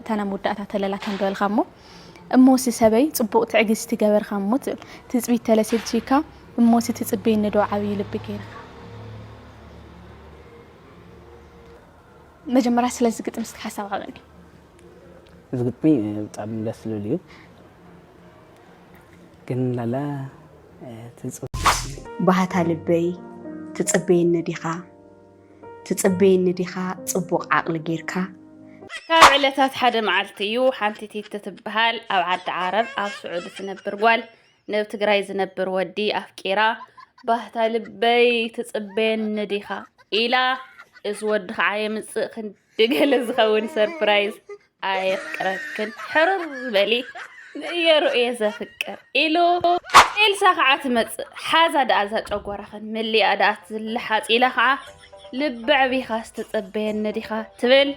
እታ ናብ መወዳእታ ተለላ ከም በልካ እሞ እሞሲ ሰበይ ጽቡቕ ትዕግስቲ ገበርካ እሞ ትብል ትጽቢት ተለሲልቺካ እሞሲ ትጽበየኒ ዶ ዓብዪ ልቢ ገይርካ መጀመርያ ስለዚ ግጥሚ እስኪ ሓሳብ ዓበኒ እዚ ግጥሚ ብጣዕሚ ደስ ዝብል እዩ ግን ላላ ትጽ ባህታ ልበይ ትጽበየኒ ዲኻ ትጽበየኒ ዲኻ ጽቡቕ ዓቕሊ ጌርካ? ካብ ዕለታት ሓደ መዓልቲ እዩ ሓንቲ ቲቲ ትበሃል ኣብ ዓዲ ዓረብ ኣብ ስዑዲ ትነብር ጓል ነብ ትግራይ ዝነብር ወዲ ኣፍቂራ ባህታ ልበይ ትጽበየኒ ዲኻ ኢላ እዚ ወዲ ከዓ የምጽእ ክንዲ ገለ ዝኸውን ሰርፕራይዝ ኣየፍቅረክን ሕሩር በሊ ንእየሩ እየ ዘፍቅር ኢሉ ኤልሳ ከዓ ትመፅእ ሓዛ ደኣ እዛ ጨጓራኽን መሊኣ ደኣ ትልሓፅ ኢላ ከዓ ልበዕቢኻ ዝተፀበየኒ ዲኻ ትብል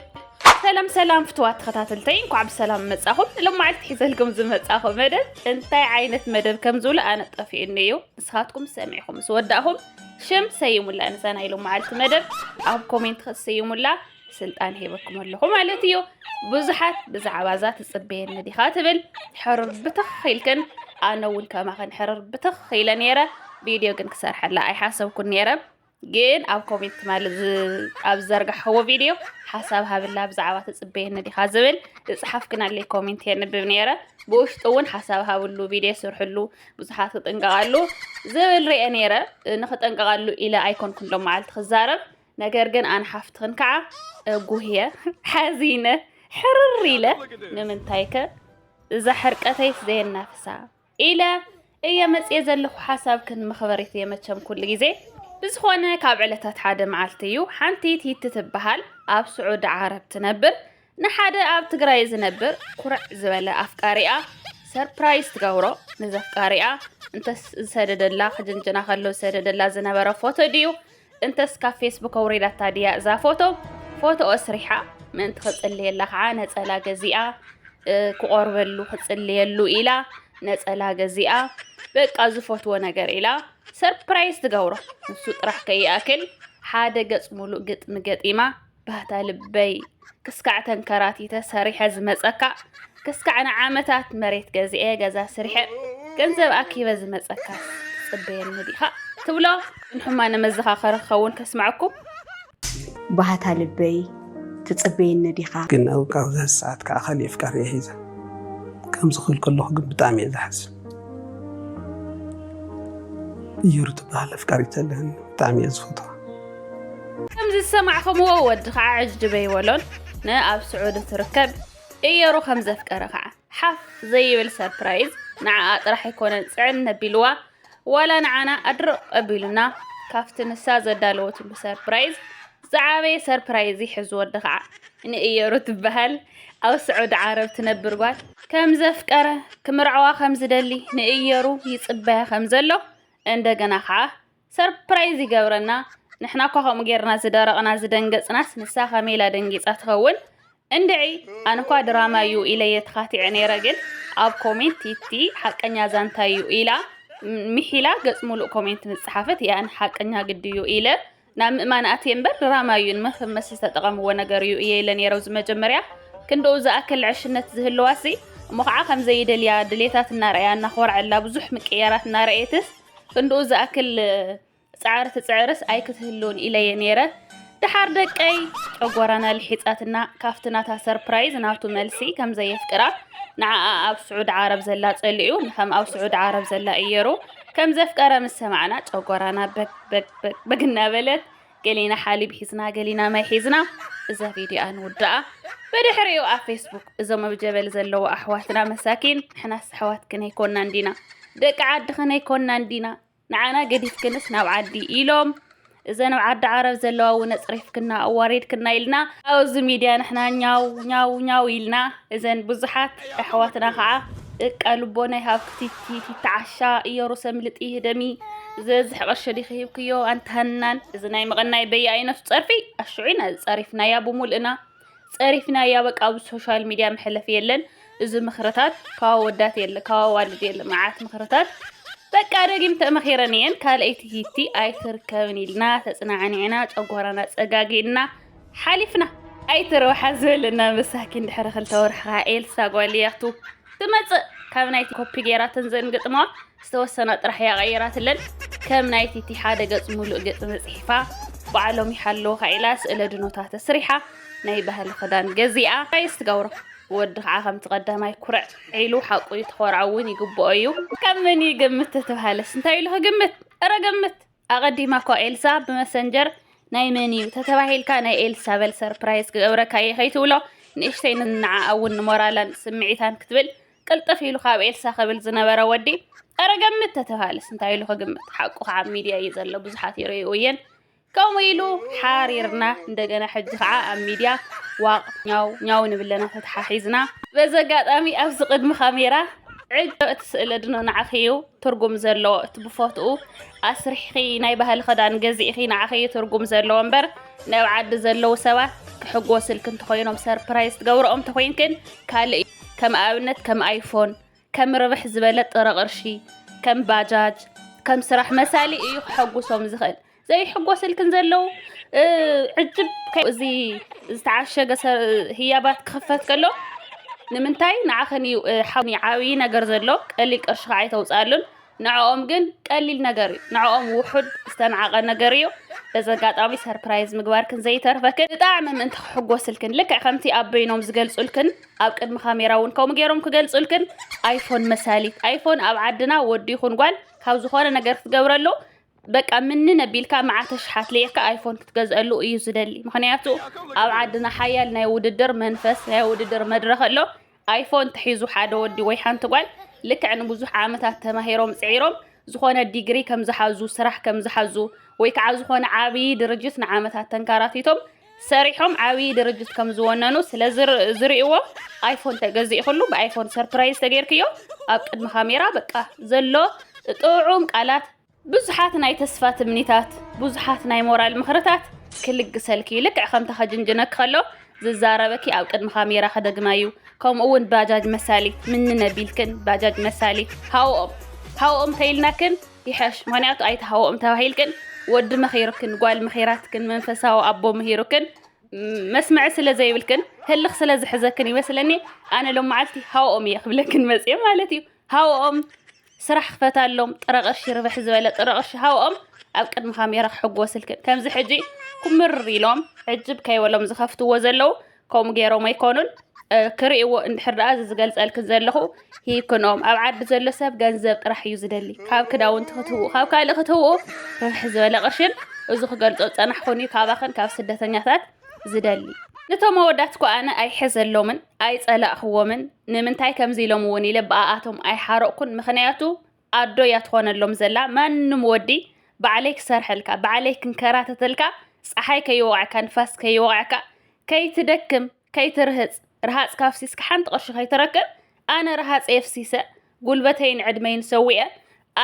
ሰላም ሰላም ፍትዋት ተኸታተልተይ እንኳዕ ብሰላም መጻኹም ሎማዓልቲ ሒዘልኩም ዝመጻኹ መደብ እንታይ ዓይነት መደብ ከም ዝብሉ ኣነ ጠፊኡኒ እዩ ንስኻትኩም ሰሚዕኹም ምስ ወዳእኹም ሽም ሰይሙላ ንዛ ናይ ሎማዓልቲ መደብ ኣብ ኮሜንት ክትስይሙላ ስልጣን ሂበኩም ኣለኹ ማለት እዩ ብዙሓት ብዛዕባ እዛ ትፅበየኒ ዲኻ ትብል ሕርር ብትኽ ኢልክን ኣነ እውን ከማኽን ሕርር ብትኽ ኢለ ነይረ ቪድዮ ግን ክሰርሐላ ኣይሓሰብኩን ነይረ ግን ኣብ ኮሜንት ማለት ኣብ ዘርጋሕዎ ቪድዮ ሓሳብ ሃብላ ብዛዕባ ትፅበየኒ ዲኻ ዝብል ዝፅሓፍክናለይ ኮሜንት የንብብ ነይረ ብውሽጡ እውን ሓሳብ ሃብሉ ቪድዮ ስርሕሉ ብዙሓት ክጥንቀቓሉ ዝብል ርአ ነይረ ንክጠንቀቓሉ ኢለ ኣይኮንኩን ሎ መዓልቲ ክዛረብ ነገር ግን ኣን ሓፍትኽን ከዓ ጉህየ ሓዚነ ሕርር ኢለ ንምንታይከ እዛ ሕርቀተይስ ዘየናፍሳ ኢለ እየ መፅየ ዘለኹ ሓሳብክን መኽበሪት እየ መቸም ኩሉ ግዜ ብዝኾነ ካብ ዕለታት ሓደ መዓልቲ እዩ ሓንቲ ቲቲ ትበሃል ኣብ ስዑዲ ዓረብ ትነብር ንሓደ ኣብ ትግራይ ዝነብር ኩርዕ ዝበለ ኣፍቃሪኣ ሰርፕራይዝ ትገብሮ ንዘፍቃሪኣ እንተስ ዝሰደደላ ክጅንጅና ከሎ ዝሰደደላ ዝነበረ ፎቶ ድዩ እንተስ ካብ ፌስቡክ ኣውሪዳታ ድያ እዛ ፎቶ ፎቶ ኣስሪሓ ምእንቲ ክጽልየላ ከዓ ነጸላ ገዚኣ ክቆርበሉ ክጽልየሉ ኢላ ነጸላ ገዚኣ በቃ ዝፈትዎ ነገር ኢላ ሰርፕራይዝ ትገብሮ ንሱ ጥራሕ ከይኣክል ሓደ ገጽ ሙሉእ ግጥሚ ገጢማ ባህታ ልበይ ክስካዕ ተንከራቲተ ሰሪሐ ዝመፀካ ክስካዕ ንዓመታት መሬት ገዚኤ ገዛ ስሪሐ ገንዘብ ኣኪበ ዝመፀካ ፅበየኒ ዲኻ ትብሎ ንሕማነ መዘኻኸሪ ክኸውን ከስማዕኩም ባህታ ልበይ ትፅበየኒ ዲኻ ግን ኣብዛ ሰዓት ከዓ ካሊእ ፍቃድ እየ ሒዘ ከምዚ ክብል ከለኹ ግን ብጣዕሚ እየ ዝሓዝን እየሩ ትበሃል ኣፍቃሪት ኣለኒ ብጣዕሚ እየ ዝፈትዋ ከምዚ ዝሰማዕኹምዎ ወዲ ከዓ ዕጅበይ ወሎን ንኣብ ስዑዲ ትርከብ እየሩ ከም ዘፍቀረ ከዓ ሓፍ ዘይብል ሰርፕራይዝ ንዓኣ ጥራሕ ኣይኮነን ፅዕን ነቢልዋ ዋላ ንዓና ኣድርቕ ኣቢሉና ካብቲ ንሳ ዘዳለወትሉ ሰርፕራይዝ ዝዓበየ ሰርፕራይዝ ይሕዝ ወዲ ከዓ ንእየሩ ትበሃል ኣብ ስዑዲ ዓረብ ትነብር ጓል፣ ከም ዘፍቀረ፣ ክምርዐዋ ከም ዝደሊ፣ ንእየሩ ይጽበያ ከም ዘሎ፣ እንደገና ከኣ ሰርፕራይዝ ይገብረና፣ ንሕና እኳ ከምኡ ጌርና ዝደረቕና ዝደንገጽናስ ንሳ ከመይ ኢላ ደንጊጻ ትኸውን? እንድዒ ኣነ እኳ ድራማ እዩ ኢለየ ተኻቲዐ ነይረ ግን ኣብ ኮሜንት ቲቲ ሓቀኛ ዛንታ እዩ ኢላ ሚሒላ ገጽ ሙሉእ ኮሜንት ምስ ጸሓፈት እያ ሓቀኛ ግዲ እዩ ኢለ ናብ ምእማን ኣትየ እምበር ድራማ እዩ ንመፈመሲ ዝተጠቐምዎ ነገር እዩ እየ ኢለ ነይረ ኣብዚ መጀመርያ ክንደኡ ዝኣክል ዕሽነት ዝህልዋሲ እሞ ከዓ ከም ዘይደልያ ድሌታት እናረኣያ እናኾርዐላ ብዙሕ ምቅያራት እናረኣየትስ ክንድኡ ዝኣክል ፃዕሪ ትፅዕርስ ኣይክትህልውን ኢለየ ነይረ ድሓር ደቀይ ጨጎራና ልሒጻትና ካብቲ ናታ ሰርፕራይዝ ናቱ መልሲ ከም ዘየፍቅራ ንዓኣ ኣብ ስዑድ ዓረብ ዘላ ጸሊኡ ንከም ኣብ ስዑድ ዓረብ ዘላ እየሩ ከም ዘፍቀረ ምስ ሰማዕና ጨጎራና በግ በግ በግበግ እናበለት ገሊና ሓሊብ ሒዝና ገሊና ማይ ሒዝና እዛ ቪድዮኣ ንውድኣ ብድሕሪኡ ኣብ ፌስቡክ እዞም ኣብ ጀበል ዘለዎ ኣሕዋትና መሳኪን ንሕናስ ኣሕዋትክን ኣይኮናን ዲና ደቂ ዓድኽን ኣይኮናን ዲና ንዓና ገዲፍክንስ ናብ ዓዲ ኢሎም እዘን ኣብ ዓዲ ዓረብ ዘለዋ እውን ኣፅሪፍክና ኣዋሪድክና ኢልና ኣብዚ ሚድያ ንሕና ኛው ኛው ኛው ኢልና እዘን ብዙሓት ኣሕዋትና ከዓ ደቃ ልቦና ይሃብክቲ ፊፊታ ዓሻ እዮሩሰ ምልጢ ህደሚ ዝበዝሕ ቅርሺ ዲኺ ሂብክዮ ኣንቲ ሃናን እዚ ናይ መቐናይ በየኣይነቱ ጸርፊ ኣሽዑ ኢና ዝጸሪፍናያ ብሙልእና ጸሪፍናያ በቃ ኣብ ሶሻል ሚድያ መሕለፊ የለን እዚ ምኽርታት ካብ ወዳት የለ ካብ ኣዋልድ የለ መዓት ምኽርታት በቃ ደጊም ተመኺረን እየን ካልኣይቲ ሂቲ ኣይትርከብን ኢልና ተጽናዕኒዕና ጨጓራና ጸጋጊእና ሓሊፍና ኣይትረውሓ ዝበለና መሳኪን ድሕሪ ክልተ ወርሒ ከዓ ኤልሳ ጓልያቱ ትመጽእ ካብ ናይቲ ኮፒ ገይራተን ዘንግጥማ ዝተወሰና ጥራሕ እያ ቀይራትለን ከም ናይቲ እቲ ሓደ ገጽ ሙሉእ ግጥሚ ጽሒፋ ባዕሎም ይሓለውካ ኢላ ስእለ ድኖታ ተስሪሓ ናይ ባህሊ ክዳን ገዚኣ ራይስ ትገብሮ ወዲ ከዓ ከምቲ ቀዳማይ ኩርዕ ዒሉ ሓቁ እዩ ተኮርዓ እውን ይግብኦ እዩ ካብ መን ይግምት ተተባሃለስ እንታይ ኢሉ ክግምት እረ ግምት ኣቀዲማ እኳ ኤልሳ ብመሰንጀር ናይ መን እዩ ተተባሂልካ ናይ ኤልሳ በል ሰርፕራይዝ ክገብረካ እየ ከይትብሎ ንእሽተይ ንዓኣ እውን ንሞራላን ስምዒታን ክትብል ቅልጥፍ ኢሉ ካብ ኤልሳ ክብል ዝነበረ ወዲ ኣረ ገምት ተተባሃለስ እንታይ ኢሉ ክግምት ሓቁ ከዓ ኣብ ሚድያ እዩ ዘሎ ብዙሓት ይርእዩ እየን ከምኡ ኢሉ ሓሪርና እንደገና ሕጂ ከዓ ኣብ ሚድያ ዋቕ ኛው ኛው ንብለና ተተሓሒዝና በዚ ኣጋጣሚ ኣብዚ ቅድሚ ካሜራ ዕጅ እቲ ስእለ ድኖ ንዓኺ እዩ ትርጉም ዘለዎ እቲ ብፎትኡ ኣስሪሕኺ ናይ ባህሊ ክዳን ገዚእኺ ንዓኺ እዩ ትርጉም ዘለዎ እምበር ናብ ዓዲ ዘለዉ ሰባት ክሕጎስልኪ እንተኾይኖም ሰርፕራይዝ ትገብረኦም እንተኾይንክን ካልእ እዩ ከም ኣብነት ከም ኣይፎን ከም ርብሕ ዝበለ ጥረ ቅርሺ ከም ባጃጅ ከም ስራሕ መሳሊ እዩ ክሐጉሶም ዝኽእል ዘይሕጎስልክን ዘለው ዕጅብ እዚ ዝተዓሸገ ህያባት ክኽፈት ከሎ ንምንታይ ንዓኸን እዩ ሓኒ ዓብዪ ነገር ዘሎ ቀሊል ቅርሺ ከዓ ኣይተውፅኣሉን ንዕኦም ግን ቀሊል ነገር እዩ ንዕኦም ውሑድ ዝተናዓቐ ነገር እዩ በዚ ኣጋጣሚ ሰርፕራይዝ ምግባርክን ዘይተርፈክን ብጣዕሚ ምእንቲ ክሕጎስልክን ልክዕ ከምቲ ኣብ በይኖም ዝገልፁልክን ኣብ ቅድሚ ካሜራ እውን ከምኡ ገይሮም ክገልፁልክን ኣይፎን መሳሊት ኣይፎን ኣብ ዓድና ወዲ ይኹን ጓል ካብ ዝኾነ ነገር ክትገብረሉ በቃ ምንን ኣቢልካ መዓት ኣሽሓት ልዒካ ኣይፎን ክትገዝኣሉ እዩ ዝደሊ ምክንያቱ ኣብ ዓድና ሓያል ናይ ውድድር መንፈስ ናይ ውድድር መድረክ ኣሎ ኣይፎን ተሒዙ ሓደ ወዲ ወይ ሓንቲ ጓል ልክዕ ንብዙሕ ዓመታት ተማሂሮም ፅዒሮም ዝኾነ ዲግሪ ከም ዝሓዙ ስራሕ ከም ዝሓዙ ወይ ከዓ ዝኾነ ዓብዪ ድርጅት ንዓመታት ተንካራቲቶም ሰሪሖም ዓብዪ ድርጅት ከም ዝወነኑ ስለ ዝርእዎ ኣይፎን ተገዚእክሉ ብኣይፎን ሰርፕራይዝ ተገይርክዮ ኣብ ቅድሚ ካሜራ በቃ ዘሎ ጥዑም ቃላት ብዙሓት ናይ ተስፋ ትምኒታት ብዙሓት ናይ ሞራል ምኽርታት ክልግሰልኪ እዩ ልክዕ ከምታ ከጅንጅነኪ ከሎ ዝዛረበኪ ኣብ ቅድሚ ካሜራ ክደግማ እዩ ከምኡ እውን ባጃጅ መሳሊ ምንነቢልክን ባጃጅ መሳሊ ሃኦም ሃኦም ተይልናክን ይሐሽ ምክንያቱ ኣይትሃወኦም ተባሂልክን ወዲ መኺሩክን ጓል መኺራትክን መንፈሳዊ ኣቦ ምሂሩክን መስመዕ ስለ ዘይብልክን ህልኽ ስለ ዝሕዘክን ይመስለኒ ኣነ ሎም መዓልቲ ሃወኦም እየ ክብለክን መፅዮ ማለት እዩ ሃወኦም ስራሕ ክፈታሎም ጥረ ቅርሺ ርብሕ ዝበለ ጥረ ቅርሺ ሃወኦም ኣብ ቅድሚ ካሜራ ክሕጎስልክን ከምዚ ሕጂ ኩምር ኢሎም ዕጅብ ከይበሎም ዝኸፍትዎ ዘለው ከምኡ ገይሮም ኣይኮኑን ክርእይዎ እንድሕር ደኣ እዚ ዝገልጸልክን ዘለኹ ሂክኖም ኣብ ዓዲ ዘሎ ሰብ ገንዘብ ጥራሕ እዩ ዝደሊ ካብ ክዳውንቲ ክትህብኡ ካብ ካልእ ክትህብኡ ርብሕ ዝበለ ቅርሽን እዚ ክገልጾ ዝጸናሕኹን እዩ ካባኽን ካብ ስደተኛታት ዝደሊ ነቶም ኣወዳት እኮ ኣነ ኣይሕዘሎምን ኣይጸላእኽዎምን ንምንታይ ከምዚ ኢሎም እውን ኢለ ብኣኣቶም ኣይሓረቕኩን ምክንያቱ ኣዶ እያ ትኾነሎም ዘላ ማንም ወዲ ባዕለይ ክሰርሐልካ ባዕለይ ክንከራተተልካ ፀሓይ ከይወቕዐካ ንፋስ ከይወቕዐካ ከይትደክም ከይትርህፅ ረሃፅካ ኣፍሲስካ ሓንቲ ቅርሺ ከይትረክብ ኣነ ረሃፀ የፍሲሰ ጉልበተይን ዕድመይን ሰዊአ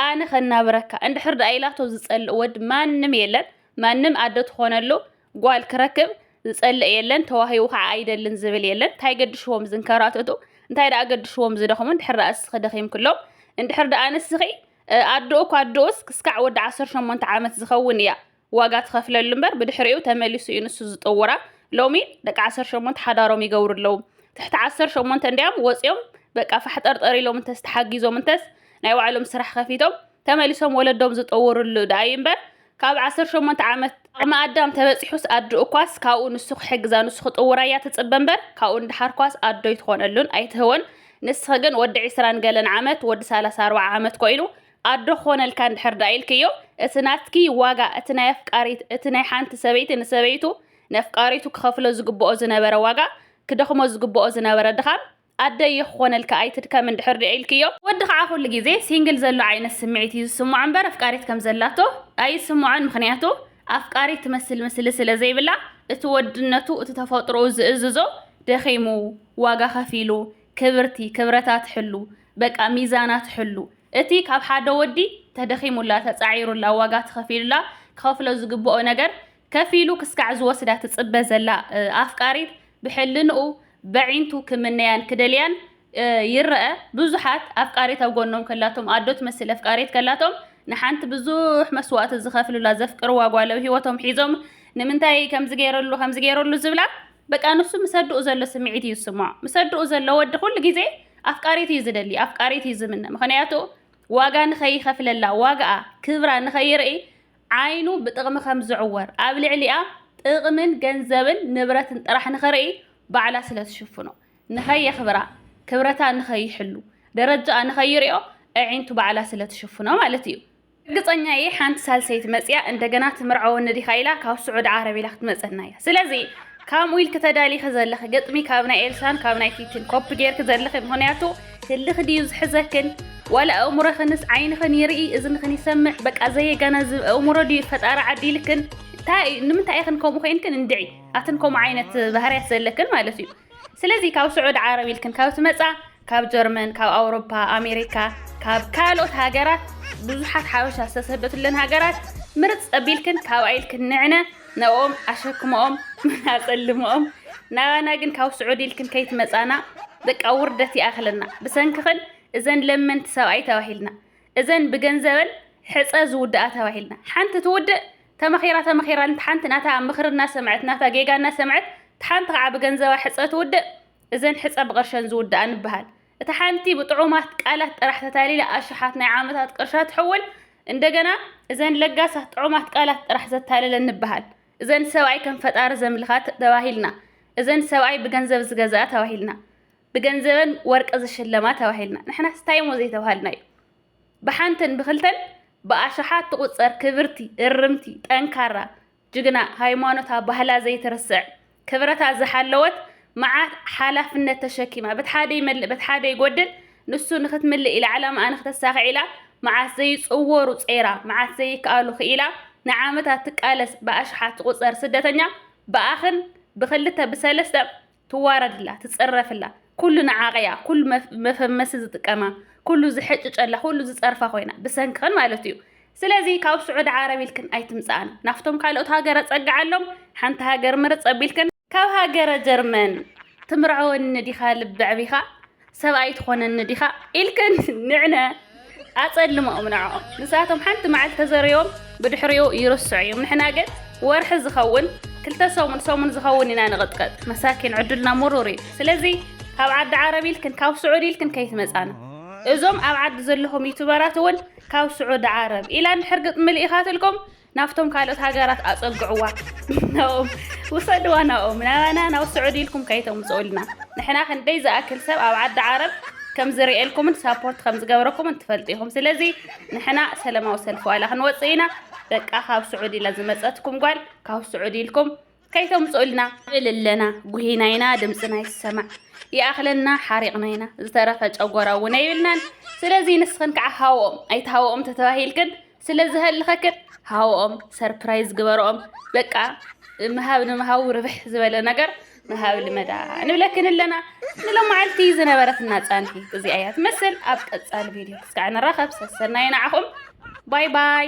ኣነ ከናብረካ እንድሕር ደኣ ኢላቶ ዝፀልእ ወዲ ማንም የለን ማንም ኣደ ትኾነሉ ጓል ክረክብ ዝጸልእ የለን ተዋሂቡ ከዓ ኣይደልን ዝብል የለን እንታይ ገድሽዎም ዝንከራተቱ እንታይ ደኣ ገድሽዎም ዝደኽሙ እንድሕር ደኣ እስኺ ደኺምክሎም እንድሕር ደኣ ንስኺ ኣደኡ እኳ ኣደኡስ ክስካዕ ወዲ 18 ዓመት ዝኸውን እያ ዋጋ ትኸፍለሉ እምበር ብድሕሪኡ ተመሊሱ እዩ ንሱ ዝጥውራ ሎሚ ደቂ 18 ሓዳሮም ይገብሩ ኣለዉ ትሕቲ 18 እንዲያም ወፂኦም በቃ ፋሕጠርጠር ኢሎም እንተስ ተሓጊዞም እንተስ ናይ ባዕሎም ስራሕ ከፊቶም ተመሊሶም ወለዶም ዝጠውርሉ ደኣ እዩ እምበር ካብ ዓሰርተ ሸሞንተ ዓመት ዓቕሚ ኣዳም ተበጺሑስ ኣድኡኳስ ካብኡ ንሱ ክሕግዛ ንሱ ክጥውራያ ትጽበ እምበር ካብኡ ንደሓርኳስ ኣዶ ኣይትኾነሉን ኣይትህቦን ንስኺ ግን ወዲ ዒስራን ገለን ዓመት ወዲ ሰላሳ ኣርባዓ ዓመት ኮይሉ ኣዶ ክኾነልካ እንድሕር ደኣ ኢልክዮ እቲ ናትኪ ዋጋ እቲ ናይ ኣፍቃሪት እቲ ናይ ሓንቲ ሰበይቲ ንሰበይቱ ነፍቃሪቱ ክኸፍሎ ዝግብኦ ዝነበረ ዋጋ ክደኽሞ ዝግብኦ ዝነበረ ድኻም ኣደይ ይኽኮነልኪ ኣይትድከሚ እንድሕር ድኣ ኢልክዮ። ወዲ ከዓ ኩሉ ግዜ ሲንግል ዘሎ ዓይነት ስምዒት እዩ ዝስምዖ እምበር ኣፍቃሪት ከም ዘላቶ ኣይስምዖን ምኽንያቱ ኣፍቃሪት ትመስል ምስሊ ስለ ዘይብላ እቲ ወድነቱ እቲ ተፈጥሮኡ ዝእዝዞ ደኺሙ ዋጋ ከፊሉ ክብርቲ ክብረታ ትሕሉ በቃ ሚዛና ትሕሉ እቲ ካብ ሓደ ወዲ ተደኺሙላ ተፃዒሩላ ዋጋ ተኸፊሉላ ክኸፍሎ ዝግበኦ ነገር ከፍ ኢሉ ክስካዕ ዝወስዳ ትጽበ ዘላ ኣፍቃሪት ብሕልንኡ በዒንቱ ክምነያን ክደልያን ይረኣ ብዙሓት ኣፍቃሪት ኣብ ጎኖም ከላቶም ኣዶ ትመስል ኣፍቃሪት ከላቶም ንሓንቲ ብዙሕ መስዋእቲ ዝኸፍሉላ ዘፍቅርዋ ጓል ኣብ ሂወቶም ሒዞም ንምንታይ ከምዚ ገይረሉ ከምዚ ገይረሉ ዝብላ በቃ ንሱ ምስ ኣድኡ ዘሎ ስምዒት እዩ ዝስምዖ ምስ ኣድኡ ዘሎ ወዲ ኩሉ ግዜ ኣፍቃሪት እዩ ዝደሊ ኣፍቃሪት እዩ ዝምነ ምክንያቱ ዋጋ ንኸይኸፍለላ ዋጋኣ ክብራ ንኸይርኢ ዓይኑ ብጥቕሚ ከም ዝዕወር፣ ኣብ ልዕሊኣ ጥቕምን ገንዘብን ንብረትን ጥራሕ ንኽርኢ ባዕላ ስለ ትሽፍኖ፣ ንኸየኽብራ፣ ክብረታ ንኸይሕሉ፣ ደረጃኣ ንኸይሪኦ ኣዒንቱ ባዕላ ስለ ትሽፍኖ ማለት እዩ። ርግጸኛ እየ ሓንቲ ሳልሰይቲ መጺኣ እንደገና ትምርዐወኒ ዲኻ ኢላ ካብ ስዑዲ ዓረብ ኢላ ክትመጸና እያ። ስለዚ ካምኡ ኢልኪ ተዳሊኺ ዘለኺ ግጥሚ ካብ ናይ ኤልሳን ካብ ናይ ቲቲን ኮፒ ጌርኪ ዘለኺ ምኽንያቱ ህልኽ ድዩ ዝሕዘክን ዋላ ኣእምሮኽንስ ዓይንኽን ይርኢ እዝንኽን ይሰምዕ በቃ ዘየጋናዝብ ኣእምሮ ድዩ ፈጣሪ ዓዲልክን እንታይ ንምንታይ ኢኽን ከምኡ ኮይንክን እንድዒ ኣትን ከምኡ ዓይነት ባህርያት ዘለክን ማለት እዩ ስለዚ ካብ ስዑድ ዓረብ ኢልክን ካብ ትመጻ ካብ ጀርመን ካብ ኣውሮፓ ኣሜሪካ ካብ ካልኦት ሃገራት ብዙሓት ሓበሻ ዝተሰደትለን ሃገራት ምርፅ ኣቢልክን ካብ ኣይልክን ንዕነ ናብኦም ኣሸክመኦም ኣጸልመኦም ናባና ግን ካብ ስዑዲ ኢልክን ከይትመጻና በቃ ውርደት ይኣኽለና ብሰንክኽን እዘን ለመንቲ ሰብኣይ ተባሂልና እዘን ብገንዘበን ሕጸ ዝውድኣ ተባሂልና ሓንቲ ትውድእ ተመኺራ ተመኺራ እንተ ሓንቲ ናታ ምኽሪ እናሰምዐት ናታ ጌጋ እናሰምዐት ሓንቲ ከዓ ብገንዘባ ሕጸ ትውድእ እዘን ሕጸ ብቕርሸን ዝውድኣ ንበሃል እታ ሓንቲ ብጥዑማት ቃላት ጥራሕ ተታሊላ ኣሽሓት ናይ ዓመታት ቅርሻ ትሕውል፣ እንደገና እዘን ለጋሳት ጥዑማት ቃላት ጥራሕ ዘታለለን ንበሃል። እዘን ሰብኣይ ከም ፈጣሪ ዘምልኻ ተባሂልና፣ እዘን ሰብኣይ ብገንዘብ ዝገዝኣ ተባሂልና፣ ብገንዘበን ወርቂ ዝሽለማ ተባሂልና፣ ንሕናስ ታይሞ ዘይተባሃልናዮ። ብሓንትን ብኽልተን ብኣሽሓት ትቑጸር ክብርቲ፣ እርምቲ፣ ጠንካራ፣ ጅግና ሃይማኖታ ባህላ ዘይትርስዕ ክብረታ ዝሓለወት መዓት ሓላፍነት ተሸኪማ በቲ ሓደ ይመልእ በቲ ሓደ ይጎድል ንሱ ንክትምልእ ኢላ ዕላማኣ ንክተሳኽዕ ኢላ መዓት ዘይጽወሩ ጸይራ መዓት ዘይከኣሉ ክኢላ ንዓመታት ትቃለስ ብኣሽሓት ትቑጸር ስደተኛ ብኣኽን ብክልተ ብሰለስተ ትዋረድላ ትጽረፍላ ኩሉ ንዓቐያ ኩሉ መፈመሲ ዝጥቀማ ኩሉ ዝሕጭጨላ ኩሉ ዝጸርፋ ኮይና ብሰንክኽን ማለት እዩ ስለዚ ካብ ስዑድ ዓረብ ኢልክን ኣይትምጽኣን ናፍቶም ካልኦት ሃገረ ጸግዓሎም ሓንቲ ሃገር ምርጽ ኣቢልክን ካብ ሃገረ ጀርመን ትምርዐወኒ ዲኻ ልቢ ዕቢኻ ሰብ ኣይትኾነኒ ዲኻ ኢልክን ንዕነ ኣጸልመኦም ንዕኦም ንሳቶም ሓንቲ መዓልቲ ተዘርዮም ብድሕሪኡ ይርስዑ እዮም ንሕና ግን ወርሒ ዝኸውን ክልተ ሰሙን ሰሙን ዝኸውን ኢና ንቕጥቀጥ መሳኪን ዕድልና ምሩር እዩ ስለዚ ካብ ዓዲ ዓረብ ኢልክን ካብ ስዑድ ኢልክን ከይትመጻና እዞም ኣብ ዓዲ ዘለኹም ዩቱበራት እውን ካብ ስዑድ ዓረብ ኢላ እንድሕር ግጥሚ ልኢኻትልኩም ናብቶም ካልኦት ሃገራት ኣጸግዕዋ ናኦም ውሰድዋ ናኦም ናባና ናብ ስዑዲ ኢልኩም ከይተምጽኡልና ንሕና ክንደይ ዝኣክል ሰብ ኣብ ዓዲ ዓረብ ከም ዝርእየልኩምን ሳፖርት ከም ዝገብረኩምን ትፈልጡ ኢኹም ስለዚ ንሕና ሰለማዊ ሰልፊ ዋላ ክንወጽእ ኢና በቃ ካብ ስዑዲ ኢላ ዝመጸትኩም ጓል ካብ ስዑዲ ኢልኩም ከይተምጽኡልና እልለና ጉሂና ኢና ድምጽና ይሰማዕ ይኣኽለና ሓሪቕና ኢና ዝተረፈ ጨጎራ እውን ኣይብልናን ስለዚ ንስኽን ከዓ ሃወኦም ኣይትሃወኦም ተተባሂልክን ስለ ዝሀልኸክን ሃወኦም ሰርፕራይዝ ግበረኦም በቃ ምሃብ ንምሃቡ ርብሕ ዝበለ ነገር ምሃብ ልመዳ ንብለክን ኣለና ንሎመዓልቲ ዝነበረትና ፃንሒ እዚኣ እያ ትመስል ኣብ ቀፃሊ ቪድዮ እስካዕ ንራኸብ ሰሰናይ ንዓኹም ባይ ባይ